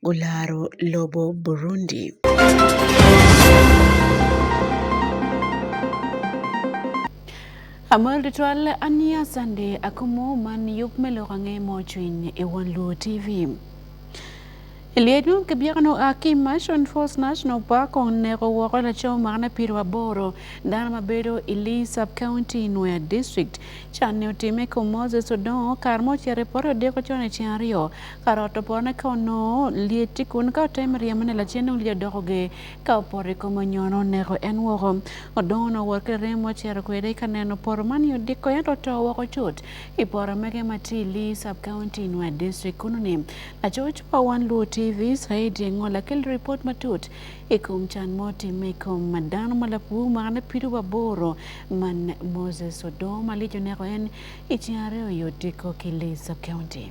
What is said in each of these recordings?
olaro lobo Burundi. Amol ritwal ania sande akomo man yup melorange mochwin e wan luo TV. Liedun kibiagano aki Mashon Falls National Park on nero woko laco makne piru aboro dano ma bedo i Lee Sub-County Nwea District can ne otime ko Moses Odongo kar mo cere poto deko cone cen aryo Ka rot opone ka onongo lyeti kun ka otemo ryemone lacen nongo lyet doko ge. Ka opoto i kom onyo nongo neko en woko. Odongo onongo wot ki rem ocito kwede ka neno poto man i odiko ento oto woko cut. I poto mege ma tye i Lee Sub County, Nwa District kunu ni laco ocwa wan Luo TV Saidi Engo lakel ripot matut i kom can mo timme i kom ma dano ma lapur mwakane pido wa boro man Moses Odongo ma lyec oneko en i ceng aryo i odiko ki Lee Sub County.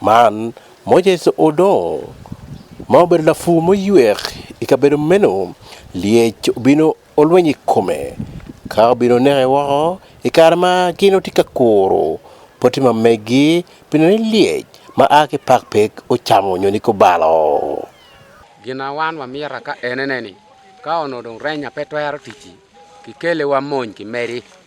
Man Moses Odong ma obedo lafu moywer i kabedo meno lyec obino olweny i kome ka obino neke woko i kare ma gin gitye ka kuro poti ma megi pi neno ni lyec ma a ki pak pe ocamo nyo niko balo. Gina wan wa mira ka enene ni ka ono dong renya pe twero tici ki kele wa mony ki medi.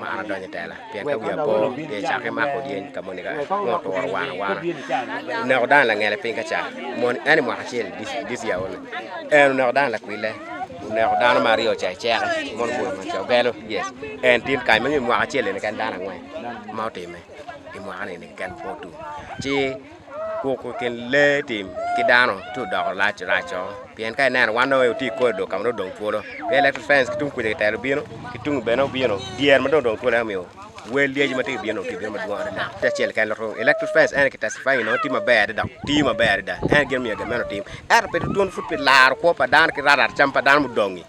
ma an adonjo e tela pien ka wiya po de cake mako dien ka moni ka ng'oto waro wara wara oneko dan lang'ele piny ka ca mon en i mwaka acel dis ya one en oneko dan lakwile oneko dano ma aryo ca iceke mon bula ma ca ogelo yes en tin kany manyo i mwaka acel ene ken dano angwen ma otime i mwaka ni ken po tum ci Kwoko kin lee tim ki dano ti odoko lac raco pien ka ineno wan dong oti kodi dok kama odong twolo pe electric fence ki tung kuja kitero bino ki tung bene obino dyer ma dong odong twolo ema omiyo wel lyeci ma ti bino ti bino madwong adada ti acel ken lotro electric fence en kitesifai ino ti maber adada ti maber adada en gin miyo gin meno tim ento pe tutwon pud pi laro kwo pa dano ki rarata cam pa dano mudongi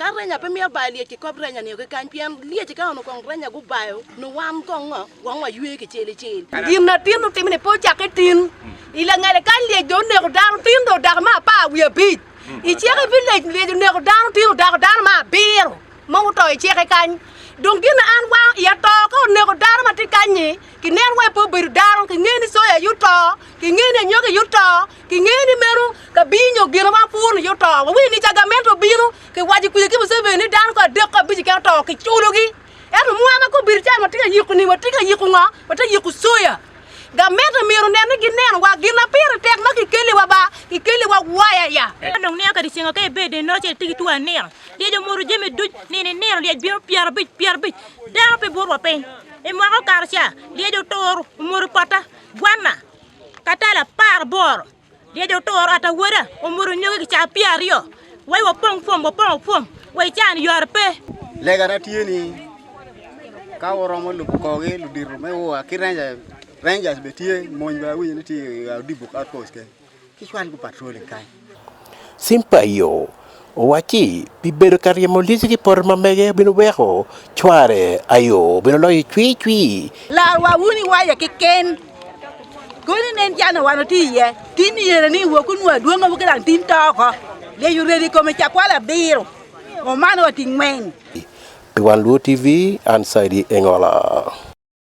Ka renya pe mito bayo lyec ki kop renya nio ki kany pien lyec ka ono kong renya gubayo ni wan kong ngo wang wa ywe ki cel icel. Gin na tin utimo ni po cake tin ilangele ka lyec do oneko dano tin do dako ma apar wiye abic iceke pi lec lyec oneko dano tin odako dano ma abiro ma oto iceke kany dong gin na an wang iya to ka oneko dano ma tye kany-nyi kinen wa ipo bedo dano kingeni soya yuto kingeni anyoki yuto King'eni meno ka binyo gino ma pur ni joto. Wi ni chagamento bino ke waji kuje ki Museveni dan ko adek ko abich ke to ki chulogi. Eno mwana ko bir chan watika yiku ni watika yiku nga wata yiku soya. Gamento miro nene gi neno wa gina pire tek ma kikeli wa ba kikeli wa waya ya. Dong ne ka disingo ke bede no che tigi tuwa nero. Dia jo moro jeme duj ni ni nero dia biro piara bich piara bich. Dano pe burwa piny. E mwako karo cha dia jo toro moro pata gwana. katala par bor dia jo toro ata wera omoro nyoge ki cha pia rio wai wa pong pong wa pong pong wai chan yor pe lega na tieni ka woromo lu ko ge lu diru me wa ki rangers rangers be tie mon ba wi ni ti ga dibu ka pos ke Simpayo owacci pi bedo ka ryemo lici ki poto ma mege obino weko cware ayo obino loyo cwi cwi lar wa wuni waya ki ken koni nen jana wano ti iye tin yere ni wo ku nwa duongo bu kilang tin toko le yu redi kome cakwala biro omano wa ti ngwen pi wan luo tv an saidi engola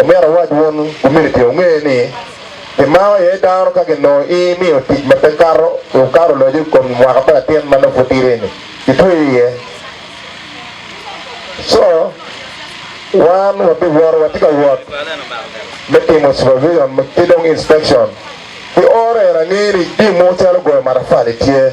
Omera wach won community ong'e ni gima oye daro ka gino imiyo tich ma pe karo ukaro loje kuom mwaka pa latin ma nofutireni itweyo iye so wan wabi wor wati ka wot me timo supervision ki dong inspection ki ore rang'eri di mo calo goyo marafali tye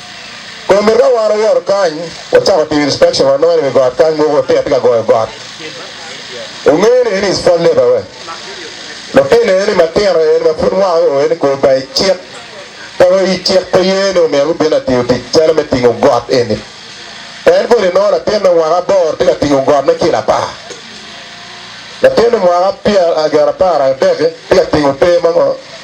Koro mirre waro yor kany, wachako timo inspection wanwere wi got kany mogo te atika goyo got. Ung'eyo ni en is fall labor we. Lutino en matino en ma pud wang o en kor bay cik. Pego i cik pe yen o mero bina tiyo tic calo me tingo got eni. En kodi nono latin me wang abor tika tingo got me kila pa. Latin me wang apia agara para deke tika tingo te mango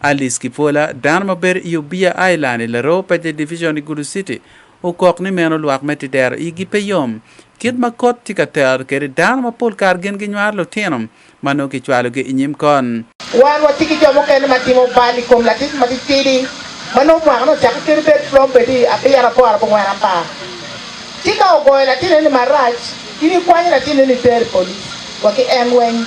Alice Kipola, dano ma bedo i Obiya Island i Laroo Paje Division i Gulu City, okok ni meno lwak me Tidero igi pe yom kit ma kot tye ka tero kwede dano ma pol kare gin ginywaro lutino ma nongo kicwalogi i nyim kon. Wan watye ki jo mukene ma timo bal i kom latic matitidi ma nongo mwakane ocako kit obed prom bedi abiro, aboro, abongwen, apar. Ci ka ogoyo latin eni marac, in ikwanyo latin eni iter i police wa ki en weng.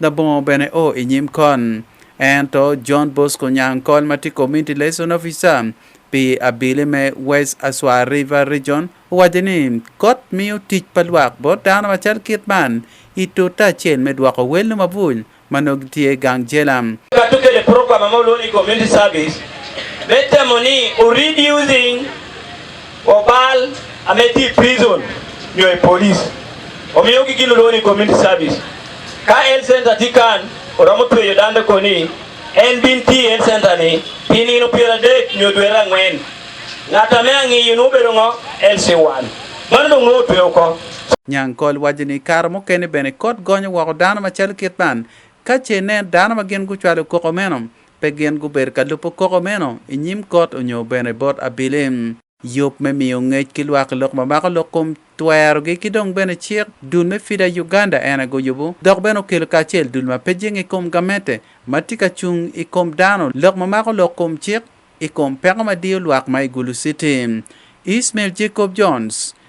Labongo bene o i nyim kon. Ento John Bosco Nyang Kol ma tye Community Liaison Officer pi abili me West Aswa River Region owaco ni kot miyo tic pa lwak bot dano macal kit man i tute acel me dwoko welno mabuny ma nongo gitye i gang jela. Kato kede program ma olwongo ni Community Service me temo ni o reducing Opal ametii prison nyo e police omiyo gi giloro ni community service ka health center tikan oromo tweyo dande koni en bin ti health center ni pinino piero adek nyo dwe rang'wen ng'ata me ang'iyo nubedo ng'o LC1 mano dong' notweyo ko Nyankol waco ni kare mukene bene kot gonyo woko dano macalo kit man ka ce nen dano ma gin gucwalo koko meno Pe gin gubedo ka lubo koko meno i nyim kot onyo bene bot abilim. Yub me miyo ngec ki lwak lok ma mako lok kom twerogi ki dong bene cik dul me FIDA Uganda en aye guyubo dok bene okelo kacel dul ma pe jing i kom gamette ma tye ka cung i kom dano lok ma mako lok kom cik i kom peko ma diyo lwak ma i Gulu City. Ismail Jacob Jones,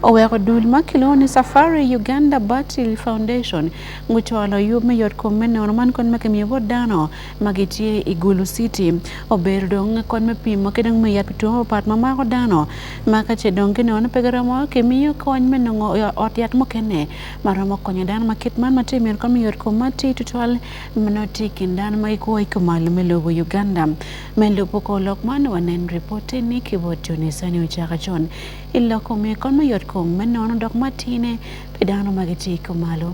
Oweko dul ma kilwongo ni Safari Uganda Battery Foundation gucwalo yub me yot kom me nono man kod ma kimiyo bot dano ma gitye i Gulu City. Obedo dong kod me pimo ki dong me yat pi two mapat ma mako dano ma ka ce dong ginono pe giromo kimiyo kony me nongo ot yat mukene ma romo konyo dano ma kit man ma tye mito kod me yot kom ma tye tutwal ma nongo tye i kin dano ma gikwo i kumalo me lobo Uganda. Me lubo kor lok man wanen ripot-ti ni ki bot Joni Sani Ocaka Con. I lok kome kong me yot kom me nono dok ma tine pi dano ma gitye i kumalo.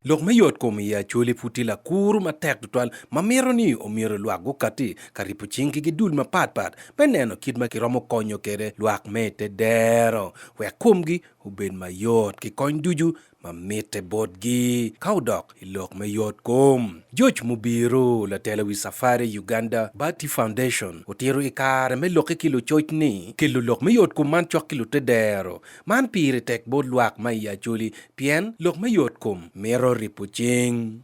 Lok me yot kom i Acholi pud tye lakur matek tutwal ma mito ni omyero lwak gukati ka ripo cing ki gidul mapatpat me neno kit ma kiromo konyo kwede lwak me i te dero wek komgi obed mayot ki kony ducu ma mitte botgi ka odok i lok me yot kom. George Mubiru, latelo wi Safari Uganda Bati Foundation, otiro i kare me lokke ki lucoc ni kelo lok me yot kom man cok ki lute dero. Man pire tek bot lwak ma i Acholi pien lok me yot kom mito ripo cing.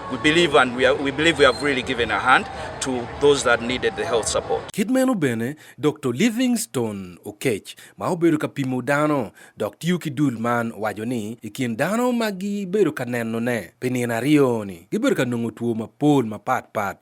We believe and we, are, we believe we have really given a hand to those that needed the health support. Kidmeno bene Dr. Livingstone Okech ma obedo ka pimo dano dok tiyo ki dul man wajo ni i kin dano ma gibedo ka nenone pi nino aryo ni gibedo ka nongo two mapol mapatpat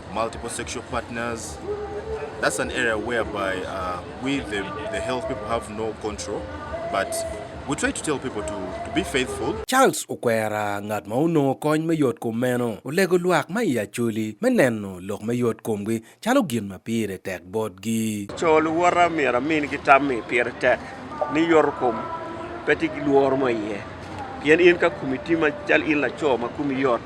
Multiple sexual partners. That's an area whereby uh, we, the, the health people, have no control, but we try to tell people to, to be faithful. Charles Okwera ngat ma onongo kony me yot kom meno olego lwak ma i acoli me neno lok me yot komgi calo gin ma pire tek botgi. Co luwota myero amin ki tammi pire tek ni yot kom pe ti ki lworo ma iye pien in ka kumi ti ma cal in laco ma kumi yot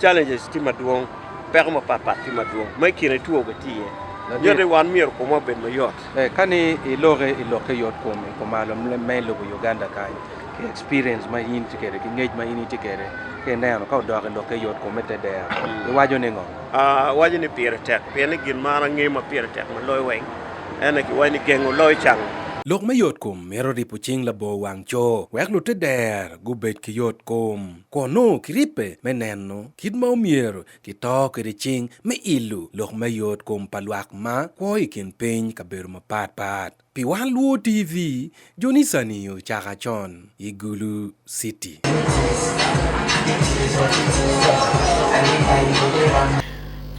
Challenges ti madwong, peko mapatpat ti madwong. Ma i kine two ga tiye. Nadi- Yote wan myero komwa obed mayot. Eh, kani iloke iloke yot kuom kumalo ma i lobo Uganda kany ki experience ma in tye kwede ki ngec ma in itye kwede ki ineno ka odok iloke yot kume te dero iwaco ni ngo Ah, waco ni pire tek, pien ni gin man ange ma pire tek ma loyo weng. Ene ki waco ni gengo loyo cango. Lok me yotkom mito ripo cing labor wang co wek lute der gubed ki yotkom. kun nongo kiribbe me neno kit ma omyero kito kwede cing me ilo lok me yot kom pa lwak ma kwo i kin piny kabedo mapat pat. Pi wan luwo TV, jonisani ocaka con i Gulu City.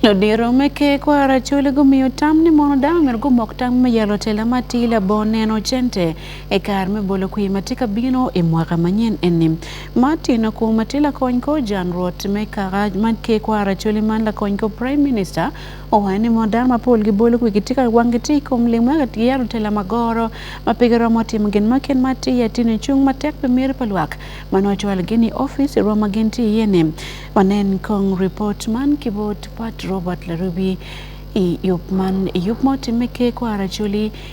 Ludiro me ker kwara acholi gumiyo tam ni mono dano myero gumok tam me yalo tela ma ti labongo neno cente e kare me bolo kwi ma tye ka bino i mwaka manyen eni. Martin Akumati lakony ko janruot me kara man ke kwara choli man lakony ko Prime Minister owaye ni modar mapol gi bolo kuwi gitika wang giti kum limo ga yaro tela magoro mapiga romo tim gen maken mati ya tine chung matek pe mir palwak mano chwal gini office romo magen ti yene wanen kong report man kibot Pat Robert Larubi i yup man yup moti me ke kwara choli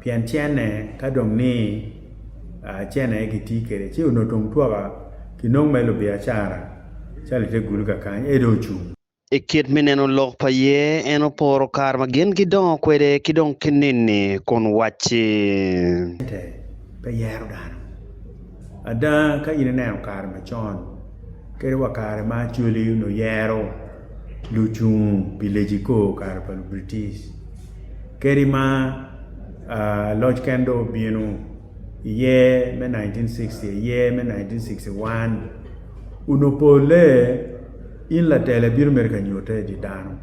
pien cene ka dong ni cene aye gitye kwede ci onongo tung twaka kinongo me lubiacara ca lite gulu kakany ede ocung I kit me neno lok pa ye en oporo kare ma gin gidongo kwede ki dong kinini kun wacci pe yero dano ada ka in ineno kare macon kadi wa kare ma acwali onongo yero Luchung pi leji ko kare pa British. Keri ma uh, Lodge Kendo bino iye me 1960, iye me 1961, unopole in latele biro mere ka nyote di dano.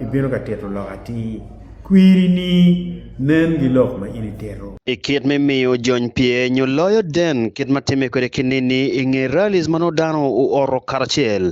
Ibiro ka tito lok ati kwiri ni nen gi lok ma in itero. I kit me miyo jony pye nyo loyo den kit ma time kwede kinini i nge rallies ma nodano u oro karacel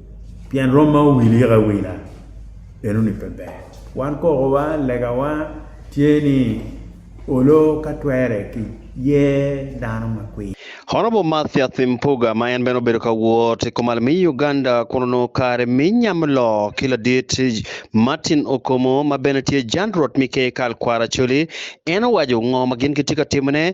Pien rom ma owil yika wila eno ni pe ber wan kokowa legawa tye ni olo ka twere ki ye dano ma kwi Honorable Mathias Mpuga ma en bene obedo ka wot i kumal mi Uganda kun onongo kare mi nyam loo ki ladit Martin Okomo ma bene tye Jan Rot Mike Kal Kwara Coli en owaco ngo ma gin gitye ka timone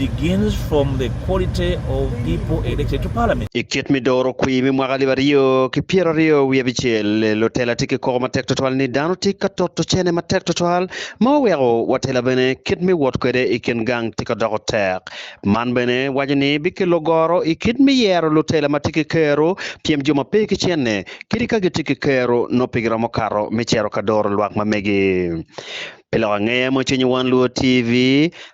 begins from the quality of people elected to parliament. I kit midoro kwi mi mwaka liba riyo ki piero riyo wiye bichel lotela tiki koko matek totwal ni dano ti ka toto chene matek totwal ma oweko watela bene kit mi wot kwede i kin gang ti ka doko tek. Man bene wajo ni bikelo goro i kit mi yero lotela ma tiki kero piem jo ma pe ki chenne kiri ka gi tiki kero no pigi romo karo mi chero ka doro lwak ma megi. Pilo ang'eya mo chenyo wan luo TV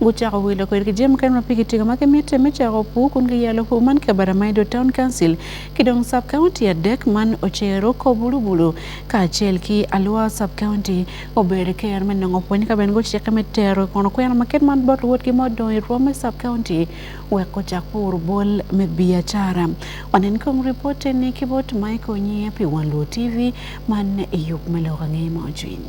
Gucako wilo kwedgi jami mukene ma pigi tigo ma gimitte me cako opwu kun giyalo opwu man Kabarra ma Edo Town Council ki dong sub county adek man Ocero, Kobulubulu kacel ki Alua sub county. Obedo ker me nongo pwony ka bene gucikke me tero kono kwena ma kit man bot luwotgi ma odong i rwom me sub county wek ocak puro bol me biacara. Wanen kong ripot ni ki bot Michael Nyia pi Wan Luo TV man i yub me lok angeye ma ocwiny.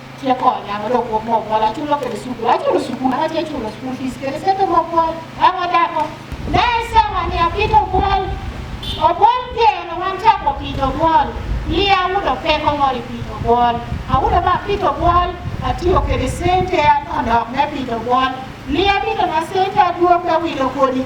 Tiekonya mondo okuom mokwal achulo kede sukul achulo sukul ache achulo sukul fees kede sete mokwal ang'o dako ne sama ni apito okwal okwal tieno wan chako pito okwal liya awudo pek ong'ol e pito okwal awudo ma apito okwal atiyo kede sente adok ne pito okwal liya bito na sente aduogo awilo kodi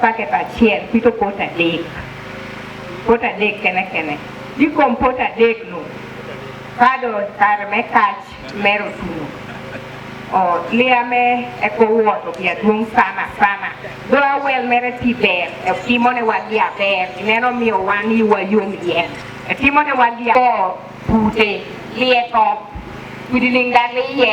paket achiel pito pot adek pot adek kene kene dikom pot adek no kado kar me kach mero tuno o liame e kowuoto gi aduong' sana sana do awel mere ti ber e timone wagi aber ineno miyo wan yiwa yom ye e timone wagi o pute lieko kudilingdaliye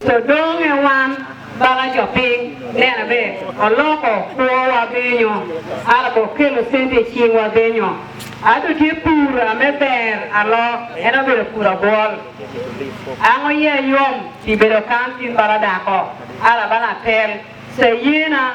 To dong e wan bala jo piny nena be oloko kwo wa binyo ala bo kelo sente chieng wa binyo ato tye pur ame ber alo en obedo pur abwol ango ye yom ti bedo kan tin bala dako ala bala tel se yena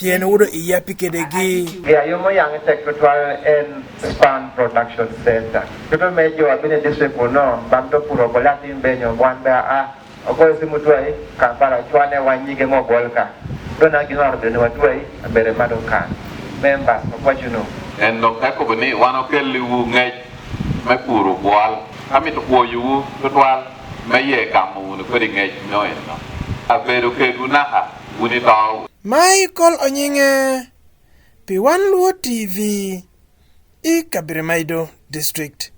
pien wudo iya pi kede gi ya yo mo yang tek to twal en span production center to to me jo abine dise ko no bam to puro ko lati be nyo wan ba a ko si mu twai ka para chwane wan nyige mo gol ka to na gi no arbe no twai bere ma do ka member ko ko juno en lo ka ko ni wan okel li wu nge me puro kwal ami to ko yu to twal me ye kamu ni ko di nge no en no abedo ke gunaha Udi Baw. Michael Onyinge, P1 Luo TV, i Kabirimaido District.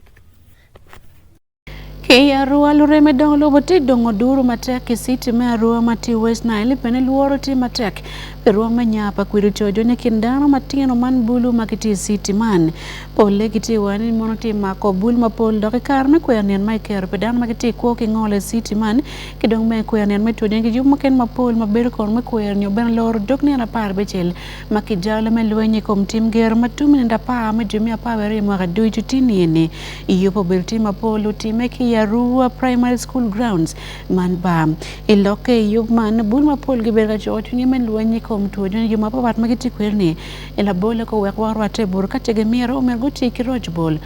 Kei Arua lure me dongo lobo ti dongo duru matek ki city me Arua ma ti West Nile pene luoro ti matek pe ruwa me nya pa kwiru cojo ni kin dano matino man bulu ma ki ti city man pole ki ti wani mono ti mako bul ma pol dok ikar me kwer nien ma ikero pe dano ma ki ti kwo ki ngole city man ki dong me kwer nino me twene kiyub mukene mapol ma bedo kono me kwer nyo bene loro dog nino apar becel ma kijalo me lweny i kom tim gero ma tumi nino apar me jumi apar bene i mwaka ducu ti nini i yubo obedo tim mapol otime ki i Arua Primary School Grounds man ba i lokke i yub man bul mapol gibedo ka coko cwinye me lweny i kom two nino jo mapapat ma gitye kweri-ni i labole ko wek wang rwatte bur ka ce gimito omyero guti ki roc bol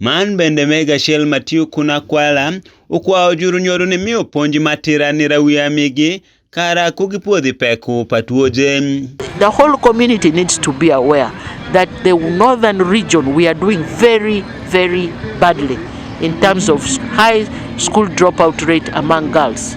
Man bende me gacel ma tye kun akwala okwao juru nyodo ni miyo ponji ma tira ni rawi amigi kara ku gipwodhi peku pa twoje. The whole community needs to be aware that the northern region we are doing very very badly in terms of high school dropout rate among girls.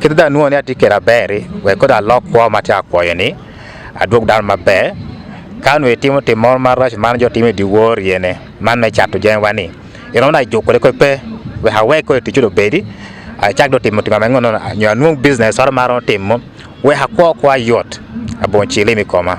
Kit dha nuo ni ati kera beri we koda lok kwa mati akwayo ni adwog dal maber kanu itimo tim moro mar rach man jotimo e diwuor yene man me chato jengwa ni ino na jukore ko pe we hawe ko tichudo bedi achak do timo timo mango no nyo anwong business or maro timo we hakwa kwa yot abonchi limi koma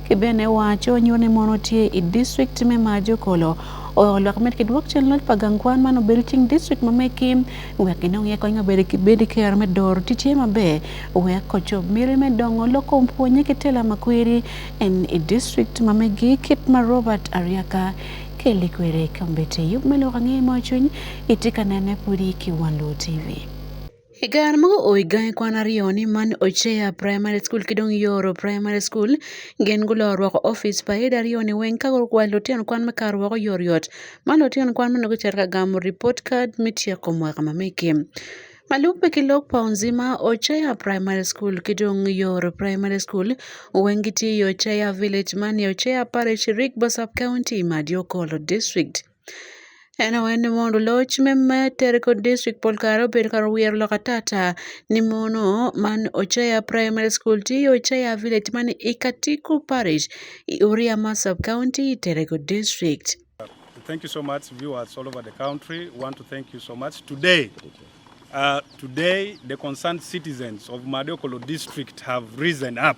Kibene wacho nyone mono tie i district me majo kolo olwak med ki dwok cen lony pa gang kwan man obedo cing district ma meki wek ginong ye kony mabedo ki bedi kero me doro ti tye maber wek kocob miri me dongo loko pwonye ki tela makwiri en i district ma megi kit ma Robert Ariaka keli kwede kombete yub me loko angeye mo cwiny itye ka nene pudi ki Wanlu TV. E kar mago oigae kwan ariyo ni man Ochea Primary School kidong Yoro Primary School gen gulo rwako office pa ida ariyo ni weng ka gwal lutino kwan me kar wako yoryot ma lutino kwan mene gucito ka gamo report card me tyeko mwaka ma mege. Maluk pe ki lok pa Onzima Ochea Primary School ki dong Yoro Primary School weng gitye i Ochea Village man i Ochea Parish, Rigbo Sub-County, Madiokolo District. En awe ni mondo loch me meter kod district pol kare obed kar wier lok atata ni mono man Ocheya Primary School ti Ocheya Village man Ikatiku Parish, Uria ma Sub County, Terego District. Thank you so much, viewers all over the country. We want to thank you so much. Today, uh, today the concerned citizens of Madokolo district have risen up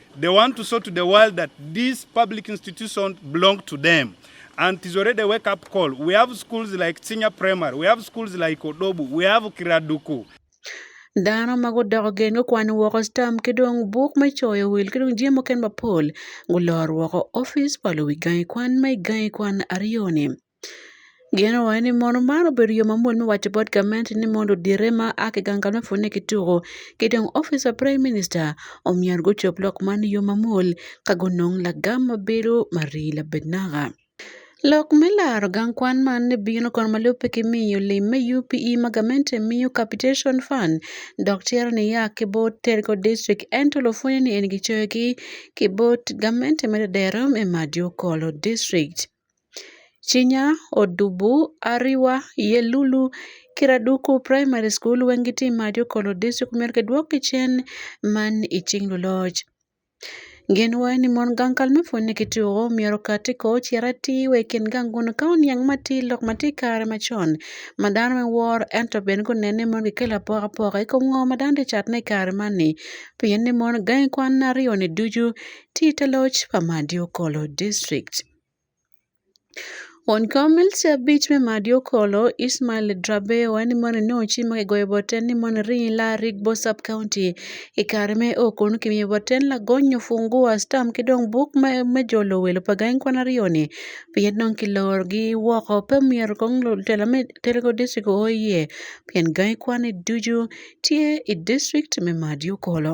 They want to show to the world that these public institutions belong to them. And it is already a wake up call. We have schools like Chinya Primary, we have schools like Odobu, we have Kiraduku. Dano ma gudoko gen gukwano woko stam ki dong buk me coyo wil ki dong jemo ken mapol gulor woko ofis pa luwi gangi kwan ma i gangi kwan aryo-ni. Geno owacho ni mono man obedo yo mamuol me waco bot gamente ni mondo odire ma a kigangala ofweny ni kituko ki dong office pa Prime Minister omyero gucob lok man i yo mamuol ka gunong lagam ma bedo marii labed naka. Lok me laro gang kwan man ni bino kono ma lubbe ki miyo lim me UPE ma gamente miyo Capitation Fund dok cito niya ki bot Telico District ento lupwonyo ni en gicoyo ki bot gamente me Dadero me Madyo Kolo District. Chinya Odubu, Ariwa, Yelulu, Kiraduku Primary School, Wengiti Majo Kolo District mer ke dwok ki cen man i cing luloc. Gin wa ni mon gang kal me pwonye ki tuko myero ka ti ko cira ti we kin gang kun ka oniang ma ti lok ma ti kare macon ma dano me wor ento ben ko nene mon ki kelo apoka poka i kom ngo ma dano ti cat ne i kare man ni pien ni mon gangi kwan aryo ni ducu ti te loc pa Majo Kolo District. Onkomil siabich me madi okolo Ismail Drabewa ni mono ne ochi ma kigoyo boten ni mono rii la rig bo sub county i kare me o kono kimiyo boten lagonyo fungua stam ki dong buk me jolo wel pa gangi kwan aryo ni pien dong kilorogi woko pe myero kong lutela me Telego district oye pien gangi kwan-ni ducu tye i district me madi okolo.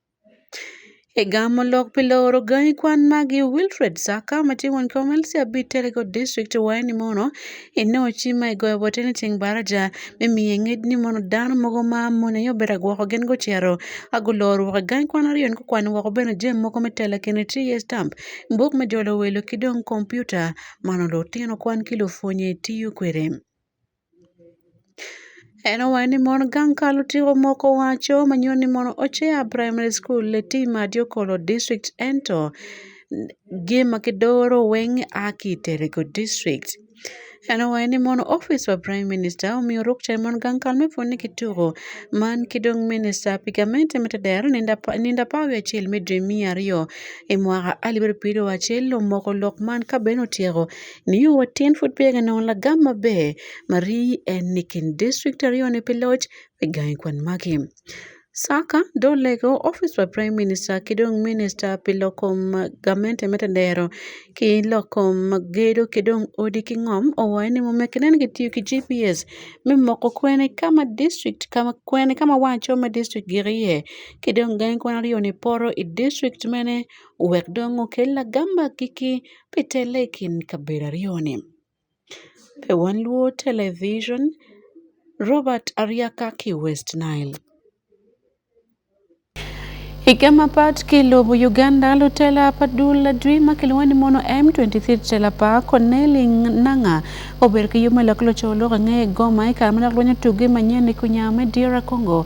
Egamo lok pile oro gai kwan magi Wilfred Saka matingo nkomelsi abi telego district waeni mono ene ochi ma igoyo bote ni ting baraja me miye ngej ni mono dano mogo ma mone yo bera gwoko gen go chero ago lor woko gai kwan ariyo nko kwan woko bene jem mogo me tela kene ti ye stamp mbok me jolo welo kidong computer mano lo tino kwan kilo funye tiyo kwede. Eno wae ni mon gang kalo tiyo moko wacho manyuol ni mon ocheya primary school le ti ma dio kolo district ento gi ma ki doro weng a ki tere go district. Eno wae ni mon office pa prime minister omiyo ruk che mon gang kal me pwonye ki tuko man ki dong minister pi gamente me tedero nindo apar wiye acel me dwe miya aryo i mwaka alip aryo piryo acel omoko lok man ka ben otyeko. Niyo watyen pud peya ga nongo lagam maber marii en ni kin district aryo ni pi loc me gangi kwan magi. Saka do lego office pa prime minister ki dong minister pi lok kom gamente me tedero ki lok kom gedo ki dong odi ki ngom owaco ni mumekkine ni kitiyo ki GPS me moko kwene ka ma district kwene ka ma wango calo ma district gik iye ki dong gangi kwan aryo ni poto i district mene. wek dong okel lagamba kiki pitele e kind kabila ariyo ni. Pe wan luo television, Robert Ariakaki West Nile. Hike mapat kilubu Uganda lutela pa dul ladwi ma kilwongo ni mono M23 tela pa Corneli Nanga obedo ki yub me lok luco lok angeye goma i kare ma dok lweny otugi manyen i kunya me Dira Congo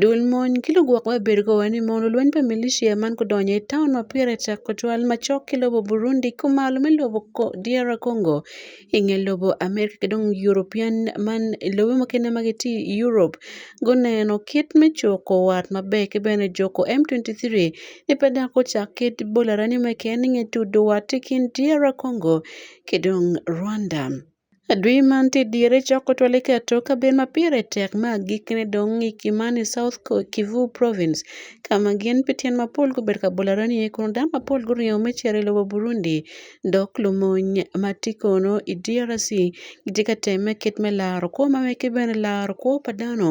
Duond monj kelo bwok ma bedo kowacho ni mondo lweny pa militia man kodonjo e town ma Pira e chako chwal ma chok ki lobo Burundi ko malo me lobo DR Congo e nge lobo America ki dong European man lobe mukene ma gitye i Europe guneno kit me coko wat maber ki bene juko M23 ci pe dok gucak kit bolo arani mukene nge tudu wat ki kin DR Congo ki dong Rwanda. Adui mantie diere choko tol iketo kaben ma pire tek ma gikne dong' i Kimani South Kivu Province kama gin pitien ma polgi obedo ka bolo araniye kono dano ma polgi oringo me cito i lobo Burundi dok lumony ma tye kono i DRC gitye ka temme kit me laro kwo ma mege ki bene laro kwo pa dano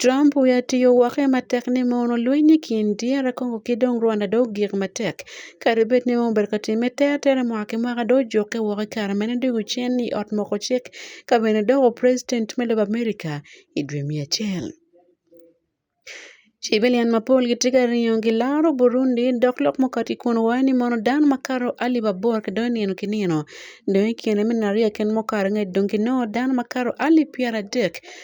Trump wiye otiyo wake matek ni mono lweny e kind DR Congo ki dong Rwanda dong ogik matek. Kadi bed ni mono obedo ka time tere tere mwaka ki mwaka dong ojukke woko i kare ma en odwogo cen i ot moko cik ka bene doko president me lobo America i dwe me acel. Cibilian mapol gitye ka ringo gilaro Burundi dok lok mukati kun wayo ni mono dano makato alip aboro kidonyo nino ki nino dong i kine me nariya ken mukato ngec dong ginongo dano makato alip pyera dek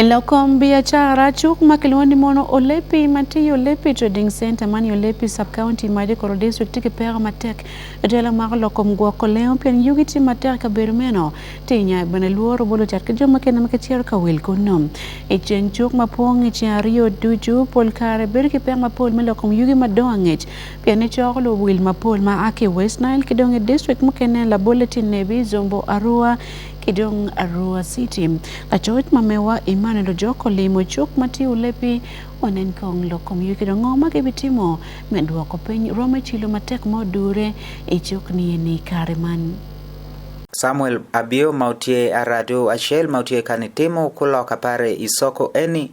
Elokom biashara chuk ma kiloni mono olepi mati olepi trading center mani olepi sub county maje koro district tiki pera matek etela mar lokom gwoko leo pien yugi ti matek ka bedo meno ti nya bana luoro bolo chat kijo ma kena maka chier ka wil kuno e chen chuk ma pong e chen rio duju pol kare bedo ki pera ma pol me lokom yugi madongo Pien ni cok luwil mapol ma a ki West Nile ki dong i district mukene labole tye Nebbi, Zombo, Arua ki dong Arua City. Lacoc ma mewa Emmanuel Ojok olimo cuk ma tye Ulepi onen kong lok kom yugi dong ngo ma gibitimo me dwoko piny rwom me cilo matek ma odure i cuk ni eni i kare man. Samuel Abio ma otye Aradu acel ma otye ka nitimo kulok apare i soko eni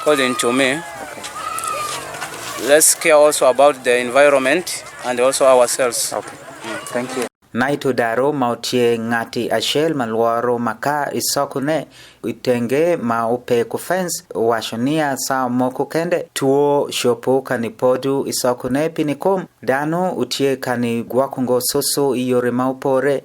According to me, okay. let's care also about the environment and also ourselves. Okay. Mm. Thank you. Naito daro ma otie ng'ati achiel ma lworo maka isokone itenge ma opeko fence wacho niya saa moko kende tuo shopo kani podu isokone pinikom dano utie kani gwakungo susu iyore ma opore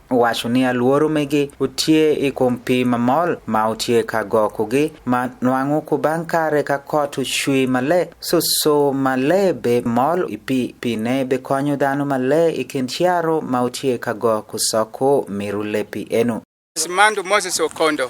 Wacho ni aluoro mege utie i kom pi mamol ma utye ka gokogi ma nwango kubang kare ka kot ucwi male susu male be mol i pi pine be konyo dano male i kin ciaro ma utye ka go ku soko miru lepi enu. Simandu Moses Okondo.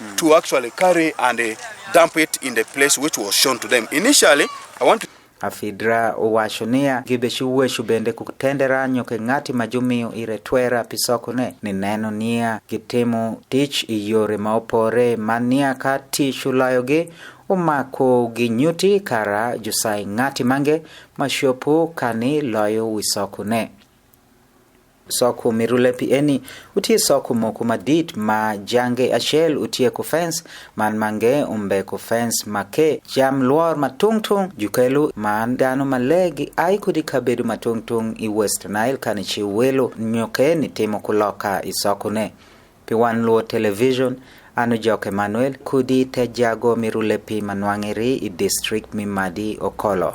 mm. to actually carry and uh, dump it in the place which was shown to them. Initially, I want to Afidra owacho niya gibeshi wueshu bende kutendera nyoke ng'ati ma jumiyo ire twera pisokone ni neno niya gitimo tich e yore ma opore ma niya ka tich ulayogi umako gi nyuti kara jusai ng'ati mange ma shopo kani loyo wisokone soko mirule pi eni utye soko moko madit ma jange acel utye ku fens man mange umbe ku fens ma ke jam lwor ma tung tung jukelu man dano ma lee gi ai kodi kabedo ma tung tung i west nile kani ci welo nyo ke ni timo ku loka i sokone pi wan luo television anu jok emmanuel kudi te jago mirule pi ma nwangeri i district mi madi okolo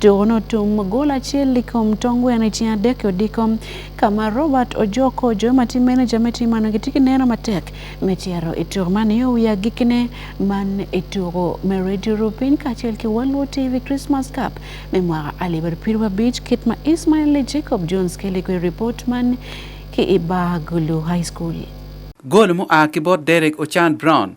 To notum gol achiel i kom tong gweno i ceng adek i odiko ka ma Robert Ojoko jo ma tye meneja me tim man gitye ki neno matek me cito i tuko man nio wiye agikkine man i tuko me Radio Rupiny kacel ki Waluo TV Christmas Cup me mwaka alip aryo pyero abic kit ma Ismail Lee Jacob Jones keli kwede ripot man ki i Bar Gulu High School. Gol mua ki bot Derek Ochan Brown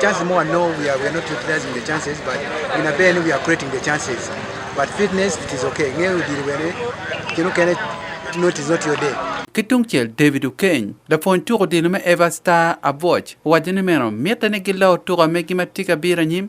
Chances more no, we are, we are not utilizing the chances, but in a band we are creating the chances. But fitness, it is okay. Ng'eyo diri wene, kino kene, no, it is not your day. ki tungcel david okeny lapwony tuko dino me eva star abuoc owaco ni meno mitte ni giloo tuko megi ma tye ka biro anyim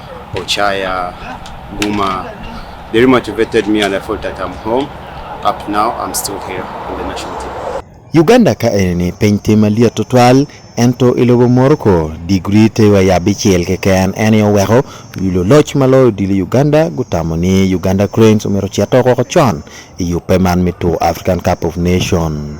Ochaya, Guma, they motivated me and I felt that I'm home. Up now, I'm still here in the national team. Uganda ka enini piny tim maliet tutwal ento ilobo Morocco digri tewa ya bichiel keken en yo weko yulo loch maloyo dili Uganda gutamo ni Uganda Cranes omero chia toko chon i yupe man mitu African Cup of Nation.